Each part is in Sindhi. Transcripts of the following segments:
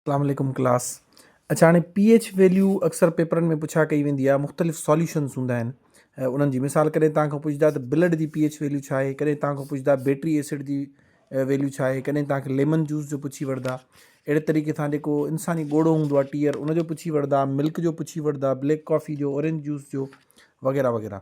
اسلام عليڪم ڪلاس اڇا هاڻي پي ايڇ ويليو اڪثر پيپرن ۾ پڇا ڪئي ويندي آهي مختلف ساليوشنس هوندا آهن انهن جي مثال ڪڏهن تان کان پڇدا ته بلڊ جي پي ايڇ ويليو ڇا آهي ڪڏهن تان کان پڇدا بيٽري ايسڊ جي ويليو ڇا آهي ڪڏهن تان کي ليمن جوس جو پڇي وڙدا اهڙي طريقي سان جيڪو انساني ڳوڙو هوندو آهي ٽيئر ان جو پڇي وڙدا ملڪ جو پڇي وڙدا بليڪ ڪافي جو اورينج جوس جو وغيره وغيره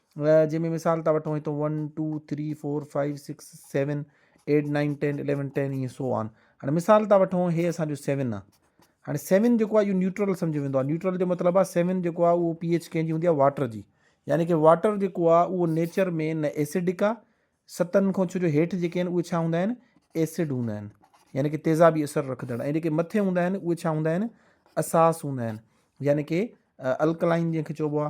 جنهن ۾ مثال ٿا وٺون هتو one two three four five six seven eight nine ten eleven ten ائين سو آن هاڻي مثال ٿا وٺون هي اسانجو سيون آ هاڻي سيون جيڪو آ اهو نيوٽرل سمجهيو ويندو آ نيوٽرل جو مطلب آ سيون جيڪو آ اهو پي ايچ ڪنهن جي هوندي آ واٽر جي يعني ڪي واٽر جيڪو آ اهو نيچر ۾ نه ايسڊڪ آ ستن کان ڇو جو هيٺ جيڪي آهن اهي ڇا هوندا آهن ايسڊ هوندا آهن يعني ڪي تيزابي اثر رکندڙ ۽ جيڪي مٿي هوندا آهن اهي ڇا هوندا آهن اساس هوندا آهن يعني ڪي الڪلائن جنهن کي چئبو آ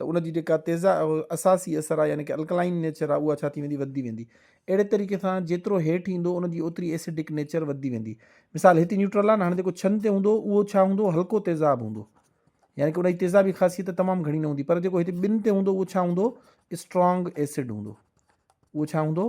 ته ان جي جيڪا تيزا اساسي اثر آهي يعني ڪه الڪلائن نيچر آهي اها ڇا ٿي ويندي وڌندي ويندي اهڙي طريقي سان جيترو هيٺ ايندو ان جي اوتري ايسڊڪ نيچر وڌندي ويندي مثال هتي نيوٽرل آهي هاڻي جيڪو ڇن تي هوندو اهو ڇا هوندو هلڪو تيزاب هوندو يعني ڪه ان جي تيزابي خاصيت تمام گهڻي نه هوندي پر جيڪو هتي ٻن تي هوندو اهو ڇا هوندو اسٽرانگ ايسڊ هوندو اهو ڇا هوندو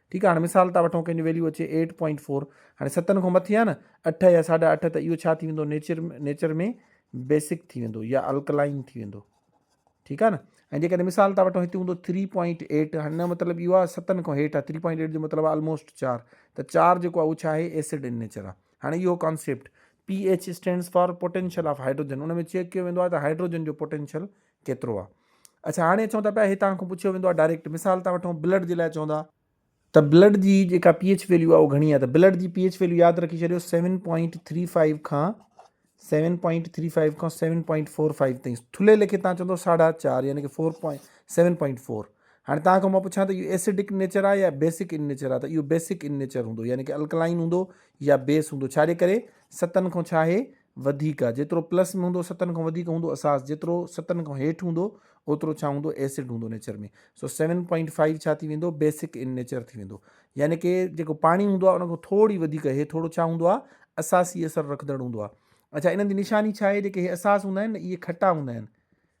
ٺيڪ آ هاڻي مثال ٿا وٺون ڪنهن جو ويليو اچي ايٽ پوائنٽ فور هاڻي ستن کان مٿي آ نه اٺ يا ساڍا اٺ ته اهو ڇا ٿي ويندو نيچر نيچر ۾ بيسڪ ٿي ويندو يا الڪلائن ٿي ويندو ٺيڪ آ نه ۽ جيڪڏهن مثال ٿا وٺون هتي هوندو ٿري پوائنٽ ايٽ هن مطلب اهو آ ستن کان هيٺ آ ٿري پوائنٽ ايٽ جو مطلب آ آلموسٽ چار ته چار جيڪو آ اهو ڇا آهي ايسڊ ان نيچر آ هاڻي اهو concept P H stands for potential of hydrogen ان ۾ چيڪ ڪيو ويندو آ ته هائيڊروجن جو پوٽينشل ڪيترو آ اڇا هاڻي اچون ٿا پيا هي توهان کان پڇيو ويندو آ ڊائريڪٽ مثال ٿا وٺون بلڊ جي لاء چوندا ته بلڊ جي جيڪا پي ايچ ويليو آ اهو گهڻي آ ته بلڊ جي پي ايچ ويليو ياد رکي ڇڏيو 7.35 کان 7.35 کان 7.45 تائين ٿلهي ليکي تان چوندو ساڍا چار يعني ڪي 4.7.4 هاڻي توهان کان مان پڇان ته اهو ايسڊڪ نيچر آهي يا بيسڪ ان نيچر آهي ته اهو بيسڪ ان نيچر هوندو يعني ڪي الڪلائن هوندو يا بيس هوندو ڇاجي ڪري ستن کان ڇا آهي وڌيڪ آهي جيترو پلس ۾ هوندو ستن کان وڌيڪ هوندو اساس جيترو ستن کان هيٺ هوندو اوترو ڇا هوندو ايسڊ هوندو nature ۾ so seven point five ڇا ٿي ويندو بيسڪ ان نيچر ٿي ويندو يعني ڪي جيڪو پاڻي هوندو آهي ان کان ٿوري وڌيڪ هي ٿورو ڇا هوندو آهي اساسي اثر رکندڙ هوندو آهي اڇا انهن جي نشاني ڇا آهي جيڪي هي اساس هوندا آهن نه اهي کٽا هوندا آهن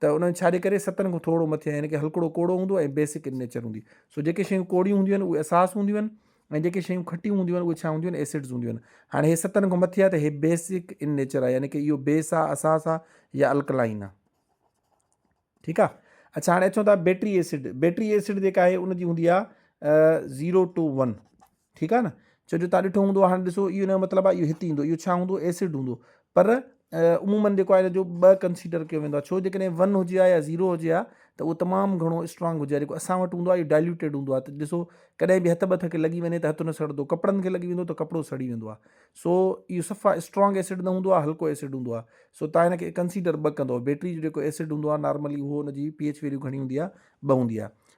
ته انهن ڇا جي ڪري ستن کان ٿورڙو مٿي آهن ڪي هلڪڙو ڪوڙو هوندو ۽ بيسڪ ان نيچر هوندي سو جيڪي شيون ڪوڙيون هونديون آهن اهي اساس هونديون آهن ۽ جيڪي شيون کٽيون هونديون آهن اهي ڇا هونديون آهن ايسڊز هونديون آهن هاڻي هي ستن کان مٿي آهي ته هي بيسڪ ان نيچر آهي يعني ڪي اهو بيس آهي اساس آهي يا الڪلائن آهي ٺيڪ آهي اچھا هاڻي اچو ٿا بيٽري ايسڊ بيٽري ايسڊ جيڪا آهي ان جي هوندي آهي زيرو ٽو ون ٺيڪ آهي نه ڇو جو تان ڏٺو هوندو هاڻي ڏسو اهو نه مطلب آهي اهو هت ايندو اهو ڇا هوندو ايسڊ هوندو پر عمومن جيڪو آهي جو ٻه ڪنسيڊر ڪيو ويندو آهي ڇو جيڪڏهن ون هجي ها يا زيرو هجي ها ته اهو تمام گهڻو اسٽرانگ هجي ها جيڪو اسان وٽ هوندو آهي اهو ڊائلوٽيڊ هوندو آهي ته ڏسو ڪڏهن به هٿ بٿ کي لڳي وڃي ته هٿ نه سڙندو ڪپڙن کي لڳي ويندو ته ڪپڙو سڙي ويندو آهي سو اهو صفا اسٽرانگ ايسڊ نه هوندو آهي هلڪو ايسڊ هوندو آهي سو تان هن کي ڪنسيڊر ٻه ڪندو بيٽري جو جيڪو ايسڊ هوندو آهي نارملي اهو هن جي پي ايچ ويليو گهڻي هوندي آهي ٻه هوندي آهي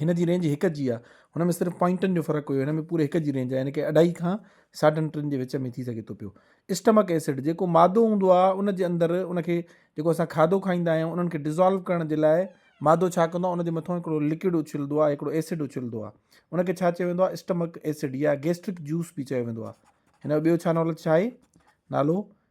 هن جي رينج هڪ جي آهي هن ۾ صرف پوائنٽن جو فرق هيو هن ۾ پوري هڪ جي رينج آهي يعني ڪي اڍائي کان ساڍن ٽن جي وچ ۾ ٿي سگهي ٿو پيو اسٽمڪ ايسڊ جيڪو مادو هوندو آهي ان جي اندر ان کي جيڪو اسان کاڌو کائيندا آهيون انهن کي ڊزالو ڪرڻ جي لاء مادو ڇا ڪندو آهي ان جي مٿان هڪڙو لڪوڊ اڇلندو آهي هڪڙو ايسڊ اڇلندو آهي ان کي ڇا چيو ويندو آهي اسٽمڪ ايسڊ يا گيسٽرڪ جوس به چيو ويندو آهي هن جو ٻيو ڇا نالو ڇا آهي نالو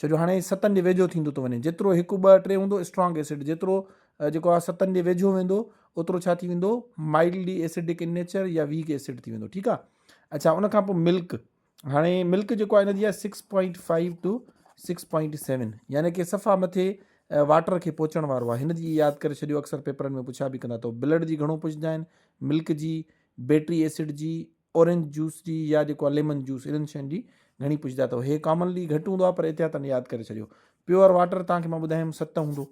ڇو جو هاڻي ستن جي ويجهو ٿيندو ٿو وڃي جيترو هڪ ٻه ٽي هوندو اسٽرانگ ايسڊ جيترو جيڪو آهي ستن جي ويجهو ويندو اوترو ڇا ٿي ويندو مائلڊلي ايسڊڪ ان نيچر يا ويڪ ايسڊ ٿي ويندو ٺيڪ آهي اچھا ان کان پوء ملڪ هاڻي ملڪ جيڪو آهي هن جي six point five two six point seven يعني ڪي صفا مٿي واٽر کي پهچڻ وارو آهي هن جي ياد ڪري ڇڏيو اڪثر پيپرن ۾ پڇا به ڪندا تو بلڊ جي گهڻو پڇندا آهن ملڪ جي بيٽري ايسڊ جي اورينج جوس جي يا جيڪو آهي ليمن جوس انهن شين جي گهڻي پڇدا اٿو هي ڪامنلي گهٽ هوندو آهي پر احتياطن ياد ڪري ڇڏيو پيور واٽر توهان کي مان ٻڌايم ست هوندو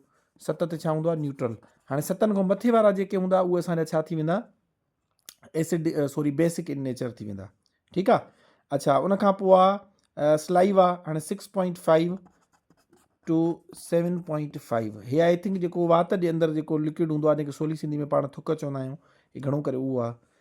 ست تي ڇا هوندو آهي نيوٽرل هاڻي ستن کان مٿي وارا جيڪي هوندا اهي اسان جا ڇا ٿي ويندا acid sorry basic in nature ٿي ويندا ٺيڪ آ اچھا ان کان پوء آ سلائوا هاڻي 6.5 ٽو سيون پوائنٽ فائیو هي آئی تھنک جيڪو وات جي اندر جيڪو لڪوڊ هوندو آهي جنکي سولي سنڌي ۾ پاڻ ٿڪ چوندا آهيون هي گھڻو ڪري اهو آهي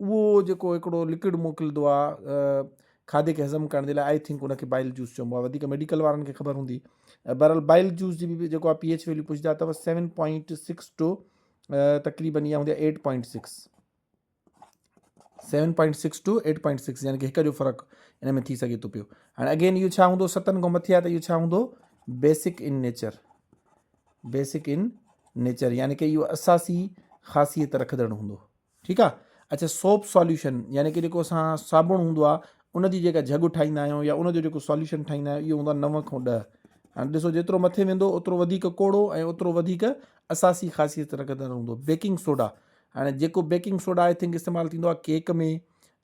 اهو جيڪو هڪڙو لڪوڊ موڪلدو آ کاڌي کي هضم ڪرڻ جي لاء آئي ٿنڪ ان کي بائل جوس چئبو آ وڌيڪ ميڊيڪل وارن کي خبر هوندي بهرحال بائل جوس جي به جيڪو آ پي ايچ ويليو پڇدا ته سيون پوائنٽ سڪس ٽو تقريبن اها هوندي آ eight point six seven point six two eight point six يعني هڪ جو فرق ان ۾ ٿي سگهي ٿو پيو هاڻي اگين اهو ڇا هوندو ستن کان مٿي آ ته اهو ڇا هوندو basic in nature basic in nature يعني کہ اهو اساسي خاصيت رکندڙ هوندو ٺيڪ آ اچا سوپ سوليوشن يعني ڪي جيڪو اسان صابڻ هوندو آ ان جي جيڪا جھڳ ٺاهيندا آهيون يا ان جو جيڪو سوليوشن ٺاهيندا آهيون اهو هوندو آ نو کان ڏهه هاڻي ڏسو جيترو مٿي ويندو اوترو وڌيڪ ڪوڙو ۽ اوترو وڌيڪ اساسي خاصيت رکندڙ هوندو بيڪنگ سوڊا هاڻي جيڪو بيڪنگ سوڊا آئي ٿنڪ استعمال ٿيندو آ ڪيڪ ۾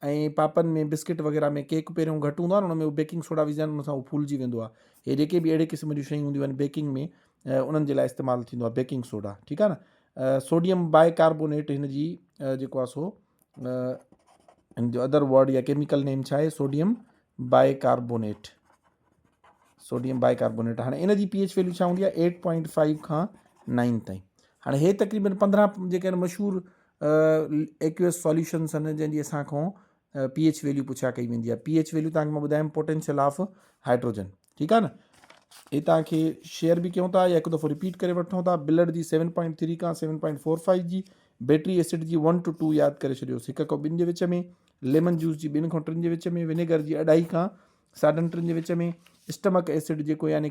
۽ پاپن ۾ بسڪٽ وغيرہ ۾ ڪيڪ پهريون گهٽ هوندو آ ان ۾ بيڪنگ سوڊا وجهن ان سان هو ڦولجي ويندو آ هي جيڪي به اهڙي قسم جون شيون هونديون آهن بيڪنگ ۾ انهن جي لاء استعمال ٿيندو آهي بيڪنگ سوڊا ٺيڪ آهي نه سوڊيم باء ڪاربونيٽ هن جي جيڪو آهي سو هن جو ادر ورڊ يا ڪيميڪل نيم ڇا آهي sodium bicarbonate sodium bicarbonate هاڻي ان جي پي ايچ ويليو ڇا هوندي آهي ايٽ پوائنٽ فائيو کان نائن تائين هاڻي هي تقريبن پندرهن جيڪي مشهور ايڪويس سوليوشنس آهن جنهن جي اسان کان پي ايچ ويليو پڇا ڪئي ويندي آهي پي ايچ ويليو تانکي مان ٻڌايم پوٽينشل آف هائيڊروجن ٺيڪ آهي نه هي تان کي شيئر به ڪيون ٿا يا هڪ دفعو رپيٽ ڪري وٺون ٿا بلڊ جي سيون پوائنٽ ٿري کان سيون پوائنٽ فور فائيو جي بيٽري اسيڊ جي ون ٽو ٽو ياد ڪري ڇڏيوسي هڪ کان ٻن جي وچ ۾ ليمن جوس جي ٻن کان ٽن جي وچ ۾ ونيگر جي اڍائي کان ساڍن ٽن جي وچ ۾ اسٹمڪ اسيڊ جيڪو يعنی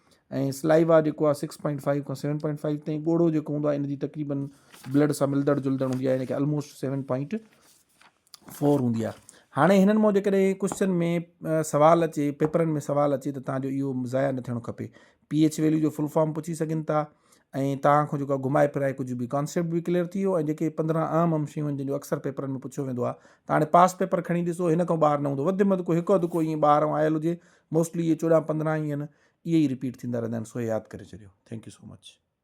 ۽ سلائيوا جيڪو آهي سڪس پوائنٽ فائيو کان سيون پوائنٽ فائيو تائين ڳوڙهو جيڪو هوندو آهي ان جي تقريبن بلڊ سان ملندڙ جلندڙ هوندي آهي يعني ڪي آلموسٽ سيون پوائنٽ فور هوندي آهي هاڻي هنن مون جيڪڏهن ڪوشچن ۾ سوال اچي پيپرن ۾ سوال اچي ته تان جو اهو ضايع نه ٿيڻو کپي پي ايچ ويليو جو فل فارم پڇي سگهن ٿا ۽ تان کان جيڪو گهمائي ڦرائي ڪجهه به ڪانسيپٽ به ڪليئر ٿي ويو ۽ جيڪي پندرهن اهم اهم شيون جن جو اڪثر پيپرن ۾ پڇيو ويندو آهي ته هاڻي پاس پيپر کڻي ڏسو هن کان ٻاهر نه هوندو وڌ مد ڪو هڪ اڌ ڪو ائين ٻاهران آيل هجي موسٽلي اهي چوڏهن پندرهن اهي رپيٽ ٿيندا رهندا آهن سو ياد ڪري ڇڏيو ٿينڪ يو سو مچ.